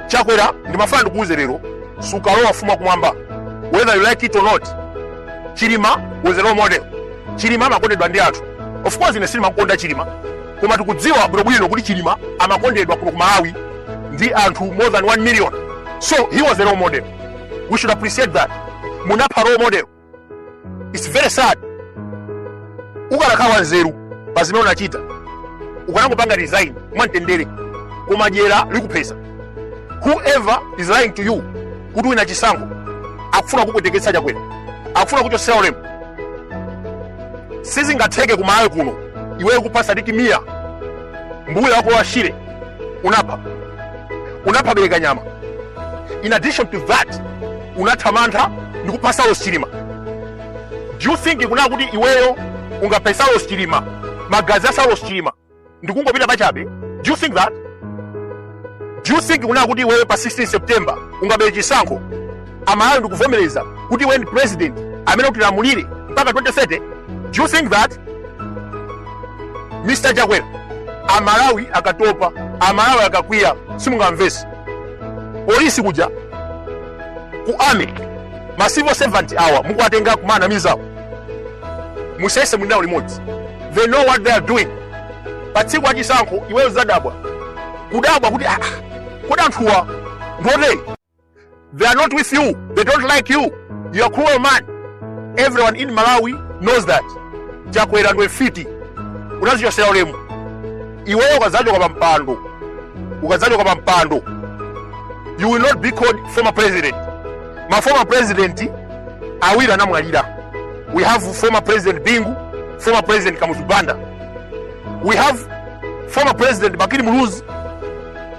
chakwera ndimafuna ndikuuze lero sukalowa ufumu wa kumwamba whether you like it or not chilima was a role model chilima amakondedwa ndi anthu of course ine sindimakonda chilima koma tikudziwa bwinobwino kuti chilima amakondedwa kuno ku malawi ndi anthu more than 1 million so he was a role model we should appreciate that munapha role model its very sad ukanakhala wanzeru pa zimene unachita ukanangopanga resign mwamtendere koma dyera likuphesa whoever is lying to you kuti uwina chisankho akufuna kukupweteketsa chakwera akufuna kukuchosera ulemu sizingatheke kumalawi kuno iweyo kupha Sidik Mia mbuya wa ku Lower Shire unapha unapha Belekanyama. In addition to that, unatha mantha ndi kupha Saulos Chilima. Do you think kunena kuti iweyo ungaphe Saulos Chilima, magazi a Saulos Chilima ndi kungopita pachabe? Do you think that? Do you think kunena kuti iweyo pa 16 September ungabere chisankho amalawi ndikuvomereza kuti iwe ndi president amene utilamulire mpaka 2030 do you think that mr chakwera amalawi akatopa amalawi akakwiya simungamvese polisi kuja ku army ma civil servant awa mukuwatenga kumanamizawo musaone muli nawo limodzi they know what they are doing pa tsiku la chisankho iweyo uzadabwa kudabwa kuti ah, kodi anthuwa ndi otere They are not with you. They don't like you. You are cruel man. Everyone in Malawi knows that. Chakwera ndiwe fiti. Unazichosera ulemu. Iweyo ukazachoka pa mpando. Ukazachoka pa mpando. You will not be called former president. Ma former president awiri anamwalira. We have former president Bingu, former president Kamuzu Banda. We have former president Bakili Muluzi